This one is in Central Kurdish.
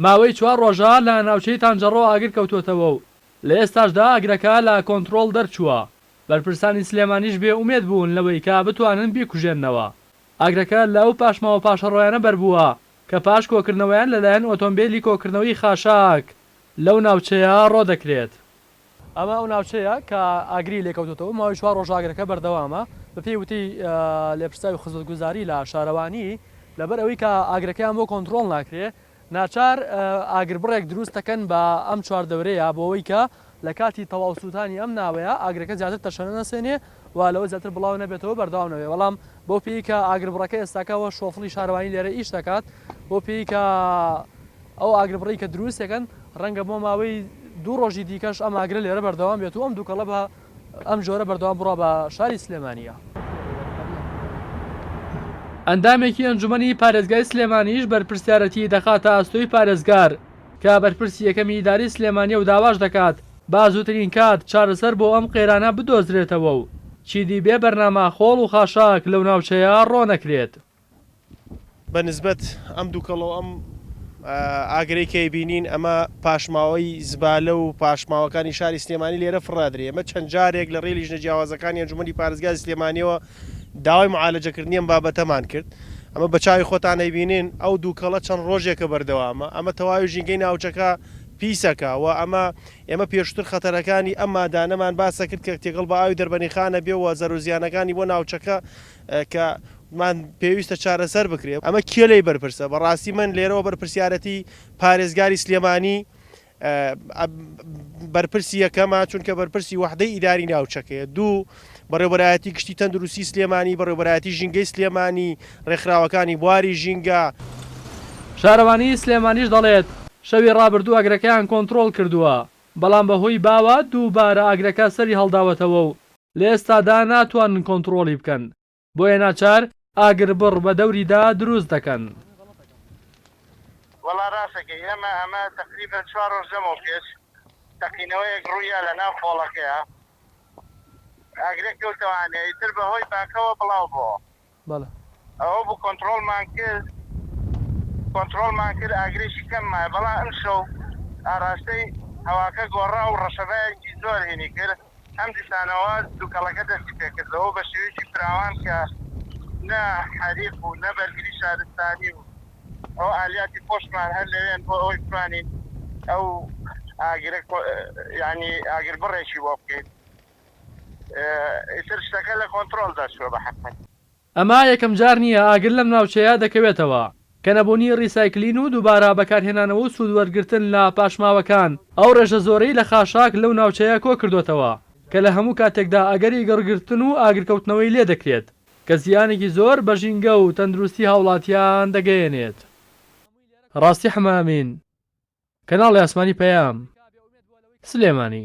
ماوەی چوار ڕۆژە لە ناوچەی تانجەڕۆ ئاگر کەوتووەتەوە و لە ئێستاشدا ئاگرەکە لە کۆنترۆڵ دەرچووە، بەرپرسانی سلێمانیش بێ ئومێد بوون لەوەی کە بتوانن بیکوژێننەوە، ئاگرەکە لەو پاشماوە پاشەڕۆیانە بەربووە کە پاش کۆکردنەوەیان لەلایەن ئۆتۆمبێلی کۆکردنەوەی خاشاک لەو ناوچەیە ڕۆدەکرێت. ئەمە ئەو ناوچەیە کە ئاگری لێکەوتۆتەوە، ماوەی چوار رۆژە ئاگرەکە بەردەوامە. بەپێی وتەی لێپرسراوی خزمەتگوزاری لە شارەوانی، لەبەر ئەوەی کە ئاگرەکەیان بۆ کۆنترۆڵ ناکرێت، ناچار ئاگربڕێک دروست دەکەن بە ئەم چواردەورەیە بۆ ئەوەی کە لە کاتی تەواو سووتانی ئەم ناوەیە ئاگرەکە زیاتر تەشەنە نەسێنێت. و لەوە زیاتر بڵاو نەبێتەوە بەردەوام نەبێت بەڵام بەو پێی کە ئاگربڕەکە ئێستاکە وە شۆفڵی شارەوانی لێرە ئیش دەکات بەو پێی کە ئەو ئاگربڕی کە دروست دەکەن ڕەنگە بۆ ماوەی دوو ڕۆژی دیکەش ئەم ئاگرە لێرە بەردەوام بێت و ئەم دووکەڵە بە ئەم جۆرە بەردەوام بڕا بە شاری سلێمانیە. ئەندامێکی ئەنجومەنی پارێزگای سلێمانیش بەرپرسیارەتی دەخاتە ئەستۆی پارێزگار کە بەرپرسی یەکەمی ئیدارەی سلێمانیە و داواش دەکات، با زووترین کات چارەسەر بۆ ئەم قەیرانە بدۆزرێتەوە و چیدی بێ بەرنامە خۆڵ و خاشاک لەو ناوچەیە ڕۆنەکرێت. بە نسبەت ئەم دوکەڵە و ئەم ئاگرەی کە ئەیبینین ئەمە پاشماوەی زبالە و پاشماوەکانی شاری سلێمانی لێرە فڕادرێ ئێمە چەند جارێک لە ڕێی لیژنە جیاوازەکانی ئەنجومەنی پارێزگای سلێمانیەوە داوای معالەجەکردنی ئەم بابەتەمان کرد. ئەمە بە چاوی خۆتان ئەیبینن، ئەو دووکەڵە چەند ڕۆژێکە بەردەوامە، ئەمە تەواوی ژینگەی ناوچەکە پیسەکا و ئەمە، ئێمە پێشووتر خەتەرەکانی ئەم مادانەمان باسە کرد کە تێکەڵ بە ئاوی دەربەنیخان ئەبێ و زەرەوزیانەکانی بۆ ناوچەکە کە مان پێویستە چارەسەر بکرێ. ئەمە کێ لێی بەرپرسە؟ بەڕاستی من لێرەوە بەرپرسیارەتی پارێزگاری سلێمانی بەرپرسی یەکەمە، چونکە بەرپرسی وەحدەی ئیداری ناوچەکەیە، دوو بەڕێوەبەرایەتی گشتی تەندروستی سلێمانی، بەڕێوەبەرایەتی ژینگەی سلێمانی، ڕێکخراوەکانی بواری ژینگە. شارەوانیی سلێمانیش دەڵێت، شەوی ڕابردوو ئاگرەکەیان کۆنترۆڵ کردووە، بەڵام بەهۆی باوە دووبارە ئاگرەکە سەری هەڵداوەتەوە و لە ئێستادا ناتوانن کۆنترۆڵی بکەن. بۆیە ناچار ئاگربڕ بە دەوریدا دروست دەکەن. وەڵا ڕاست دەکەی ئێمە ئەمە تەقریبەن چوار ڕۆژ لەمەو پێش تەقینەوەیەک ڕوویا لە ناو خۆڵەکەیا ئاگرێک کەوتەوە ئانیا ئیتر بە هۆی باکەوە بڵاو بۆوە بەڵێ. ئەوە بوو کۆنتڕۆڵمان کرد کۆنتڕۆڵمان کرد ئاگرێکی کەم مایە بەڵام ئەمشەو ئاڕاستەی هەواکە گۆڕا و ڕەشەبایەکی زۆر هینی کرد ئەم دیسانەوە دوکەڵەکە دەستی پێکردەوەو بە شێوەیەکی فراوان کە نە حەریق بوو نە بەرگری شارستانی و ئەوە ئالیاتی خۆشمان هەر لەوێن بۆ ئەوەی بتوانین ئەو ئاگرە یانی ئاگر بڕێکی بۆ بکەین ئیتر شتەکە لە کۆنترۆڵ دەرچووە بە حەقیقەت. ئەمە یەکەم جار نییە ئاگر لەم ناوچەیە دەکەوێتەوە، کە نەبوونی ڕیسایکلین و دووبارە بەکارهێنانەوە و سوود وەرگرتن لە پاشماوەکان ئەو ڕێژە زۆرەی لە خاشاک لەو ناوچەیە کۆ کردۆتەوە کە لە هەموو کاتێکدا ئەگەری گڕگرتن و ئاگرکەوتنەوەی لێ دەکرێت کە زیانێکی زۆر بە ژینگە و تەندروستی هاوڵاتیان دەگەیەنێت. ڕاستی حەمەئەمین، کەناڵی ئاسمانی پەیام، سلێمانی.